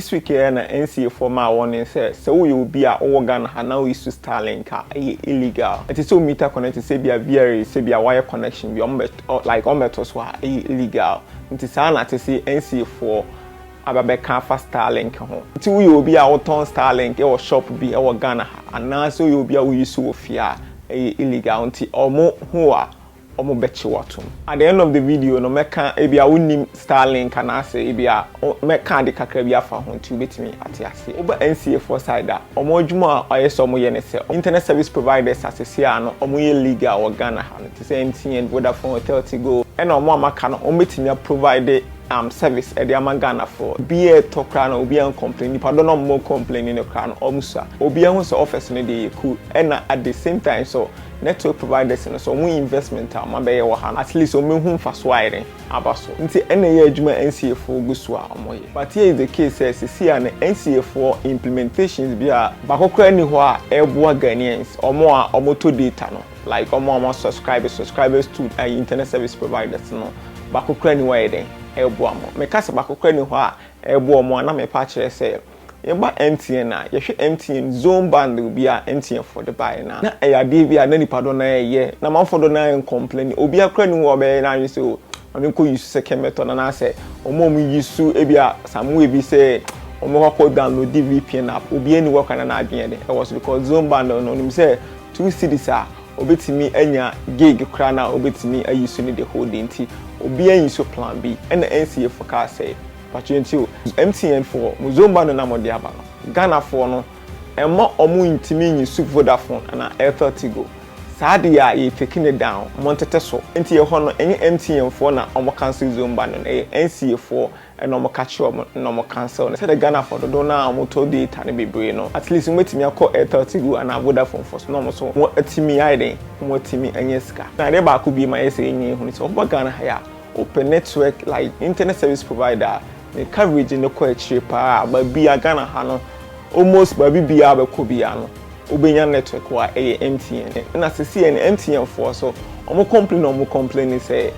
This week ɛ na NCA foɔ maa warning sɛ sɛ wo yɛ obi a wo wɔ Ghana ha na wo use Starlink a ɛ yɛ illegal. Ɛte sɛ wo meter connecting sɛ ebia VRAs sɛ bia w'ayɛ connection bi ɔmo bɛ ɔ like ɔmo bɛ to so a ɛ yɛ illegal. Nti saa na ɛte se NCA foɔ aba bɛ ka afa Starlink ho. Nti wo yɛ obi a wo tɔn Starlink ɛ wɔ shop bi ɛ wɔ Ghana ha anaa sɛ wo yɛ obi a wo use wɔ fie a ɛ yɛ illegal. Nti ɔmo hu wo a wɔbɛkye wo atom. At the end of the video no mɛka ebia wonnim Starlink anaasɛ ebia mɛka ade kakra bi afa ho nti wobɛtumi ate aseɛ. Woba NCA foɔ side a, wɔn adwuma a ayɛ sɛ wɔyɛ ne sɛ, internet service providers a seesei a no wɔyɛ legal wɔ Ghana ha no te sɛ MTN, Vodafone, Airtel, Tigo, ɛna wɔn a wɔaka no wɔbɛtumi a provide um service de ama Ghanafoɔ. Obiara ɛtɔ koraa no obiara ncomplain, nnipa dɔ no a wɔcomplaini no koraa no wɔsua. Obiara hu sɛ office no deɛ ɛyɛ cool ɛna at the same time nso Network providers no so wɔn investment a wɔn abɛyɛ wɔ ha no at least wɔn bɛ hu nfa so a yɛde aba so nti ɛna ɛyɛ adwuma NCA foɔ gu so a wɔn yɛ but here is the case sɛ sisi a no NCA foɔ implementations bi a baako koraa nni hɔ a ɛboa Ghanaians wɔn a wɔn tɔ data no like wɔn a wɔn a subscribe subscribers to ayi internet service providers no baako koraa nni hɔ a ɛyɛ dɛn ɛboa wɔn meka sɛ baako koraa nni hɔ a ɛboa wɔn a na mɛpa akyerɛ sɛ. Yɛba MTN a, yɛhwɛ MTN zone bundle bi a MTNfoɔ de baeɛ no a, na ɛyɛ adeɛ bi a na nnipa dodoɔ no ara reyɛ, na amanfoɔ dodoɔ no ara ncomplaini. Obiara koraa nni hɔ a ɔbɛyɛ n'adwene sɛ oh, ma menkɔ use second method anaasɛ wɔn a wɔn use ebia some way bi sɛ wɔbɛkɔ akɔ downloadi VPN app, obiara nni hɔ koraa na n'adwene de ɛwɔ so because zone bundle no, ɔnim sɛ two cedis a ɔbɛtumi anya gig koraa no a ɔbɛtumi a use no the whole day nti, obiara use plan bi. Ɛna NCAfoɔ kaa sɛ. Mpakyɛw ntie o, MTN foɔ mo zomba no na mo de aba no, Ghana foɔ no ɛmma ɔmo ntumi nyi soup Vodafone anaa Airtel Tigo, saa de a yɛ fake no down, mo ntete so, nti ɛhɔ no ɛnyɛ MTN foɔ na ɔmo cancel zomba no, na ɛyɛ NCA foɔ na ɔmo ka kyerɛ ɔmo na ɔmo cancel no, sɛdeɛ Ghana foɔ dodoɔ no a ɔmo tɔ data no bebree no, at least ɔmo bɛtumi akɔ Airtel Tigo anaa Vodafone foɔ so na ɔmo so ɔmo atumi ayɛ dɛn, ɔmo atumi anya sika. Na adeɛ baako bio mayɛ sɛ yɛn nyinaa ehunu sɛ, ɔmo ba Ghana ha yi a, Wopɛ network like internet service provider a ne coverage no kɔ akyire paa a baabi a Ghana ha no almost baabi biara a wobɛkɔ biara no wobɛnya network hɔ a ɛyɛ MTN. Ɛna seesei no MTN foɔ nso wɔn complain a wɔn complain ne sɛ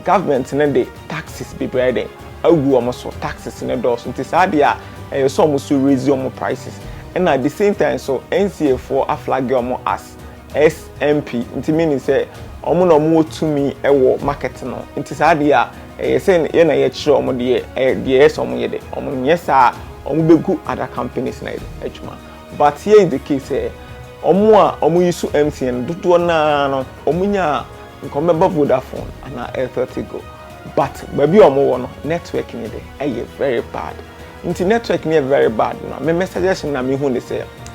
government no de taxes bebree ayɛ dɛn agu wɔn so, taxes no dɔɔso nti saa deɛ a ɛyɛ sɛ wɔn nso raise wɔn prices. Ɛna at the same time nso NCA foɔ a flagge wɔn as SMP nti meaning sɛ ɔmo na ɔmo wɔ tumi wɔ market no nti saa deɛ a ɛyɛ sɛ yɛ na yɛkyerɛ ɔmo deɛ ɛyɛ deɛ ɛyɛ sɛ ɔmo yɛ dɛ ɔmo nyɛ saa a ɔmo bɛgu other companies na yɛ adwuma but here is the case sɛ ɔmo a ɔmo yi so MTN no dodoɔ naa no ɔmo nya a nka ɔmo bɛba Vodafone anaa Airtel Tigo but baabi a ɔmo wɔ no network ne de ɛyɛ very bad nti network ne yɛ very bad no a me me suggestion na me hu ne sɛ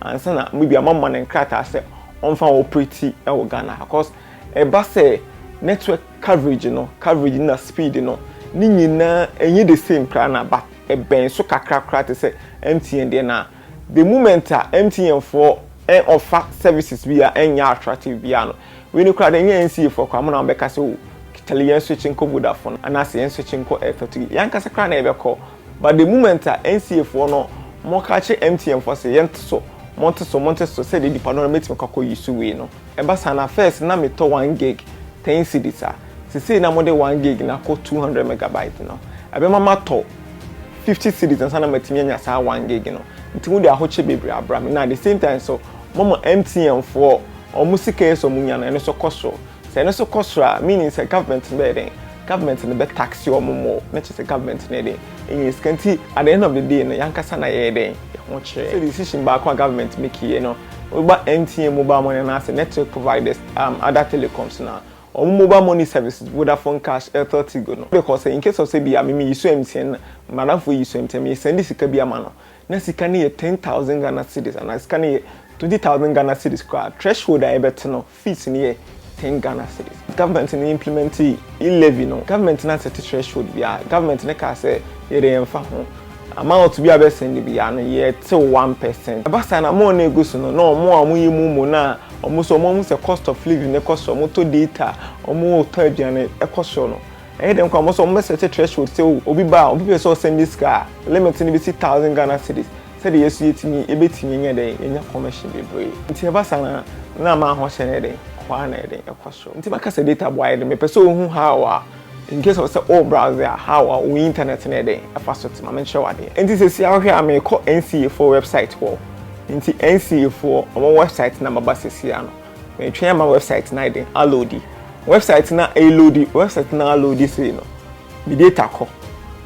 ansa na maybe ama ma ne nkrataa sɛ ɔmfa operate wɔ Ghana ha cause ɛba sɛ network coverage no coverage na speed no ne nyinaa ɛnyɛ the same koraa na but ɛbɛn so kakra koraa te sɛ MTN deɛ na the moment a MTN foɔ ɔfa services bi a ɛnyɛ attractive bi a no wei ne koraa deɛ ɛnyɛ NCA foɔ koraa mo na wɔbɛka sɛ o kyale yɛn switch nkɔ Vodafone anaasɛ yɛn switch nkɔ Airtel yɛn ankasa koraa na yɛbɛkɔ But the moment a NCA foɔ no mo ka kye MTN foɔ se yɛn te so, mo nte so, mo nte so sɛdeɛ nipa dodoɔ no bɛtumi akɔ akɔ use wei no, ɛba saa no a first na me tɔ one gig ten cedis a, sesei na mo de one gig no akɔ two hundred megabyte no, ɛbɛma matɔ fifty cedis ansa na matumi anya saa one gig no, nti mo de ahokye bebree abra me, na at the same time nso mo ama MTN foɔ wɔn sika yi sɛ wɔn nya no ɛno nso kɔ soro, sɛ ɛno nso kɔ soro a meaning sɛ government no bɛyɛ dɛn? Government no bɛ tax wɔn more na kyerɛ sɛ government no yɛ dɛn? Ɛnya sika nti at the end of the day no yɛn ankasa na yɛyɛ dɛn? Yɛn ho kyerɛ. Sɛ decision baako a government make yɛ no wo ba MTN mobile money anaa sɛ network providers um other telecoms no a wɔn mobile money services Vodafone cash, Airtel Tigo no because sɛ in case of sɛ bi a me me use MTN na madamfo yi use MTN me send sika bi ama no na sika no yɛ ten thousand Ghana cedis anaa sika no yɛ twenty thousand Ghana cedis koraa threshold a yɛbɛto no Fees no yɛ ten Ghana cedis. Government no implementee e-levy no, government no asɛte threshold bi a government no kaa sɛ yɛde yɛmfa ho. Amount bi a bɛsɛnde biara no yɛtew one percent. Ɛba saa na more no a egu so no, na wɔn a wɔyɛ mu mo no a wɔn nso wɔahu sɛ cost of living no kɔ soro, wɔtɔ data, wɔtɔ aduane ɛkɔ soro no, ɛyɛ dɛn koraa wɔn nso wɔbɛsɛte threshold sɛ oh, obi ba a, obi pɛ sɛ ɔsɛnde sika a, limit no besi thousand Ghana cedis. Sɛdeɛ yɛ nso yɛtumi, yɛbɛtumi anya dɛn? Yɛnya kɔmɛhye bebree. Nti ɛba saa no a, na ma ho hyɛ no yɛ dɛn? Kɔ ara na yɛ dɛn? Ɛkɔ soro. Nti maka sɛ data boa yɛ dɛn? Mepɛ sɛ wohu how a, in case of sɛ wo browse a, how a wo internet no yɛ dɛn? Ɛfa so te. Ma menkyerɛ wo adeɛ. Nti seesei ara wohwɛ a, merekɔ NCA foɔ website hɔ. Nti NCA foɔ wɔn website no na maba seesei ara no. Meretwɛn ama website no ayɛ dɛn? Aloadi. Website no a ɛreloadi, website no a aloadi sei no, me data kɔ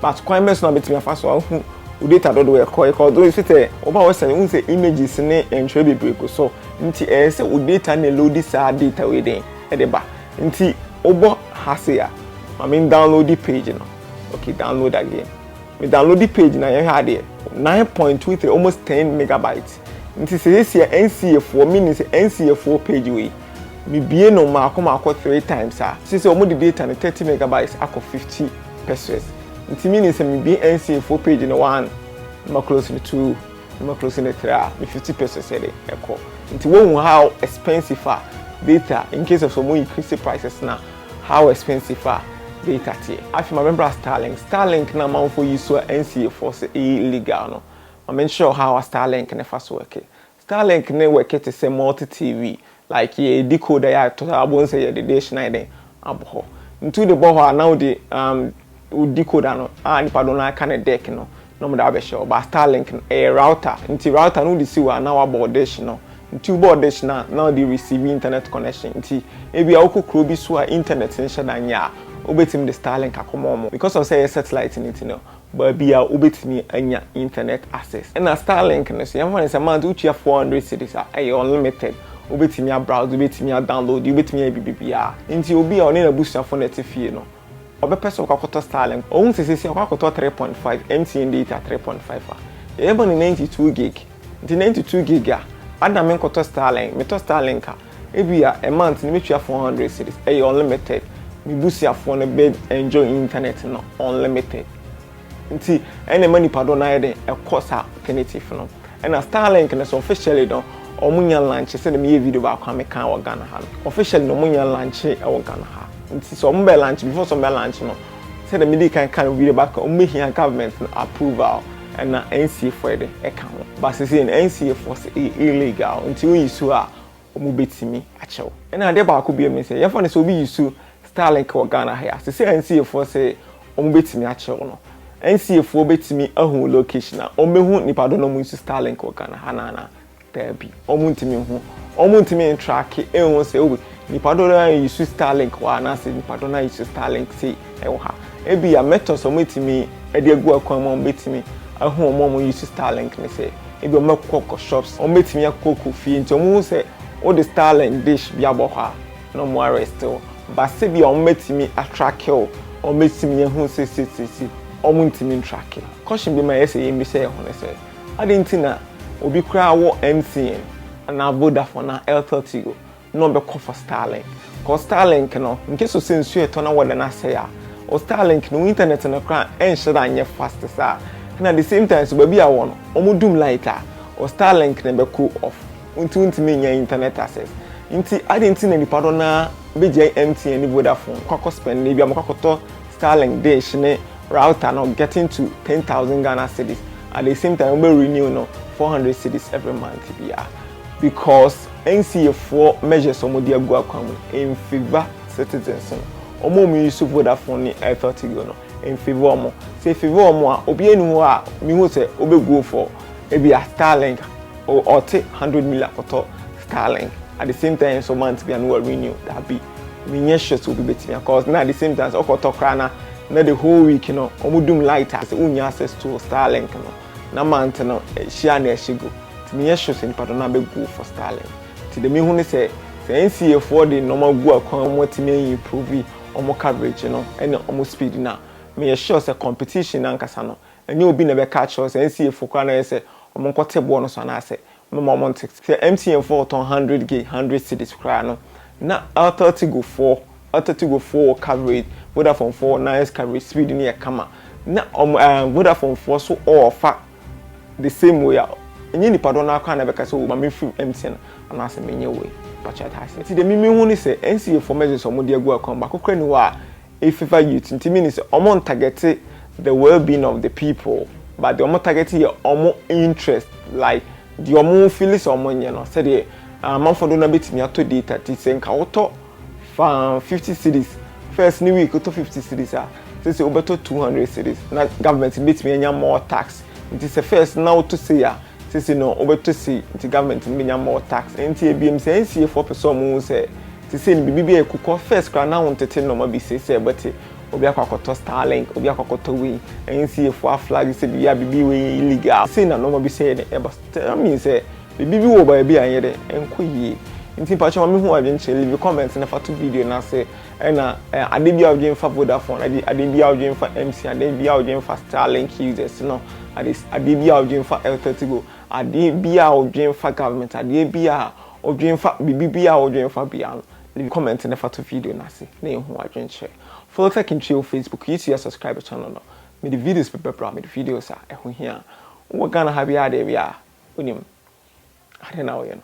but kwan bɛ so na bɛtumi afa so ahu wo data dodoɔ ɛkɔ ɛkɔ ɔdo ɛsɛ sɛ ɔba wɔ sɛne wohu sɛ images ne ntwerɛ bebree gu so nti ɛyɛ sɛ wo data ne loadi saa data wei den ɛde ba nti wobɔ ha se a ma me download page no okay download again me download page na yɛhwɛ adeɛ 9.23 almost 10 megabytes nti sɛ yɛsi a NCA foɔ meaning sɛ NCA foɔ page wei Me bue no mmaako mmaako three times a, seesei wɔn de data no thirty megabytes akɔ fifty pesewas. Nti meaning sɛ me bue NCA foɔ page no one, na ma close no two, na ma close no three a, me fifty pesewas yɛde ɛkɔ. Nti wohu how expensive a data, in case of sɛ wɔn increase prices no a, how expensive a data teɛ. Afei ma me bra Starlink. Starlink no a amanfoɔ yi so a NCA foɔ se ɛyɛ illegal no, ma me nkyerɛ wo how a Starlink no fa so worke. Starlink no worke te sɛ multi TV, like yɛ decoder yi a ɛtɔ saa wobɛhu sɛ yɛde dish no ayɛ dɛn abɔ hɔ. Nti wode bɔ hɔ a na wode um wo decoder no a nipa dodoɔ no ara ka no deck no na wɔde abɛhyɛ hɔ but Starlink no ɛyɛ router nti router no wode si hɔ a na wabɔ wo dish no nti wobɔ wo dish no a na wode receive internet connection nti ebia wokɔ kuro bi so a internet nhyɛ da nyɛ a wobɛtumi de Starlink akɔma wɔn because of sɛ ɛyɛ satellite no nti no baabi a wobɛtumi anya internet access. Ɛna Starlink no nso, yɛmfa no sɛ month wotua four hundred cedis a, ɛyɛ unlimited, wobɛtumi a browse, wobɛtumi a download, wobɛtumi ayɛ biribibiara. Nti obi a ɔne n'abusuafo na ɛte fie no, ɔbɛpɛ sɛ ɔkɔ akɔtɔ Starlink. Ɔhu sɛ seesei ɔkɔ akɔtɔ three point five, MTN data three point five a, yɛbɛma no ninety two gig. Nti ninety two gig a, adɛn na menkɔtɔ Starlink? Metɔ Starlink a, Ebia a month no mɛtua four hundred cedis, ɛyɛ unlimited, me busuafoɔ no bɛ enjoy internet no unlimited, nti ɛna ɛma nipa doɔ no ayɛ den ɛkɔ saa alternative no. Ɛna Starlink no nso officially no wɔn nnya launch sɛdeɛ meyɛɛ video baako a mekaa wɔ Ghana ha no, officially no wɔn nnya launch wɔ Ghana ha, nti sɛ wɔn bɛ launch, before sɛ wɔn bɛ launch no, sɛdeɛ medii kan kaa no video baako a wɔn bɛhia government no approval, Ɛna NCA foɔ de ɛka ho. But sesei no NCA foɔ se ɛyɛ illegal nti wo use a ɔmo bɛtumi akyɛ wo. Ɛna adeɛ baako biom ne sɛ yɛmfa no sɛ obi use Starlink wɔ Ghana ha yi a sesei a NCA foɔ se ɔmo bɛtumi akyɛ wo no NCA foɔ bɛtumi ahu wo location a ɔmo bɛhu nipa doɔ na ɔmo use Starlink wɔ Ghana ha no anaa? Daabi, wɔntumi nhu, wɔntumi ntracke nhu sɛ oh, nipa dodoɔ no ara use Starlink hɔ anaasɛ nipa dodoɔ no ara use Starlink sei wɔ ha. Ebia methods a wɔbɛtumi de agu akwan mu a wɔbɛtumi ahu wɔn a wɔuse Starlink no sɛ, ebia wɔbɛkokɔ shops, wɔbɛtumi akokɔ fie, nti wɔhu sɛ wode Starlink dish bi abɔ hɔ a, na wɔn arrest wo. But sɛ ebia wɔatumi atracke wo, wɔatumi ahu sɛ seisei, wɔntumi ntracke. Caution bi ma ɛyɛ sɛ yɛmmisa yɛn ho ne sɛ, Adɛn nti na obi koraa wɔ MTN anaa Vodafone anaa Airtel Tigo na ɔbɛkɔ for Starlink? Cause Starlink no, in case of sɛ nsuo retɔ na weather no asɛe a, wo Starlink no, wo internet no koraa ɛnhyɛ da nyɛ fast saa. Ɛna the same time nso, baabi a wɔ no, wɔdum light a, wo Starlink no bɛkɔ off. Nti wontumi nnya internet access. Nti adɛn nti na nnipa dodoɔ no ara bɛgyae MTN ne Vodafone, kɔ akɔ spend ebi a wɔkɔ akɔtɔ Starlink dish ne Router no getting to ten thousand Ghana cedis at the same time wobɛ renew no four hundred cedis every month biara because NCA foɔ measures wɔn de agu akwan mu in favour citizens no wɔn a wɔn use Vodafone ne Airtel Tigo no in favour wɔn sɛ favour wɔn a obi ani hɔ a mihu sɛ wobɛ go for ebi a Starlink ɔte hundred million akɔtɔ Starlink at the same time so month biara no wa renew dabi. menyɛ sure sɛ obi bɛtumi a cause na the same time sɛ ɔkɔtɔ koraa na na the whole week no wɔn dum light a sɛ wonya access to starlink no na month no hyia na ɛhyɛ gu nti menyɛ sure sɛ nipa do no abɛ go for starlink nti deɛ mehu ne sɛ sɛ NCA foɔ de nneɛma gu akwan wɔn atumi ayi improve wɔn coverage no ɛne wɔn speed no a meyɛ sure sɛ competition no ankasa no ɛnyɛ obi na ɛbɛka akyerɛ sɛ NCA foɔ koraa na ɛyɛ sɛ wɔn nkɔte boɔ no so anaasɛ Mo ma ɔmo nte. Sɛ MTN foɔ ɔtɔn hundred gig hundred cedis koraa no na Airtel Tigo foɔ Airtel Tigo foɔ wɔ coverage Vodafone foɔ wɔ nice coverage speed no yɛ kama na ɔmo ɛɛ Vodafone foɔ so ɔɔfa the same way a ɛnyɛ nipa dɔn no ara koraa na ɛbɛka sɛ oo ma me firi MTN anaa sɛ menyɛ wei mpakyɛw ate aseɛ nti deɛ me me hu ne sɛ NCA foɔ messages a ɔmo de agu account baako koraa ni hɔ a Ififa youth nti meaning sɛ ɔmo ntargɛte the well being of the people but deɛ ɔmo targɛte yɛ ɔmo interest like deɛ ɔmo fili sɛ ɔmo nyɛ no sɛdeɛ amanfoɔ dodoɔ no ara bɛtumi atɔ data ti sɛ nka wotɔ fa fifty cities first ne week wotɔ fifty cities a sɛ sɛ wobɛtɔ two hundred cities na government no bɛtumi anya more tax nti sɛ first na wotɔ sei a sɛ sɛ no wobɛtɔ sei nti government no bɛnya more tax nti ebiem sɛ NCA foɔ pɛ sɛ ɔmo hu sɛ Seesei no biribi bi a ɛkukɔ first koraa na wontete nnoɔma bi seesei ɛbɛte obi akɔ akɔtɔ Starlink, obi akɔ akɔtɔ wei, NCAfoɔ aflage sɛ biribi a biribi wei yɛ illegal. Sei na nnoɔma bi sɛeɛ dɛn ɛba, that means sɛ biribi bi wɔ baabi a ɛnyɛ dɛn, ɛnkɔ yie. Nti mpakyɛ ma menhu w'adwenkyerɛ, leave a comment na fa to video no ase ɛna adeɛ biara a wodwen fa Vodafone, adeɛ biara a wodwen fa MTN, adeɛ biara a wodwen fa Starlink users no, adeɛ biara a wodwen fa Airteltigo, adeɛ biara a wodwen fa government, adeɛ biara a Odwen fa biribi biara a wodwen fa biara no, leave comment na fa to video no ase na yɛnhu w'adwenkyerɛ. Follow Tech in Twi wɔ Facebook, YouTube a subscribe channel no. Mede videos bɛba bra, mede videos a ɛho hia. Wowɔ Ghana ha biara deɛ wia, wonim. Adɛn na woyɛ no?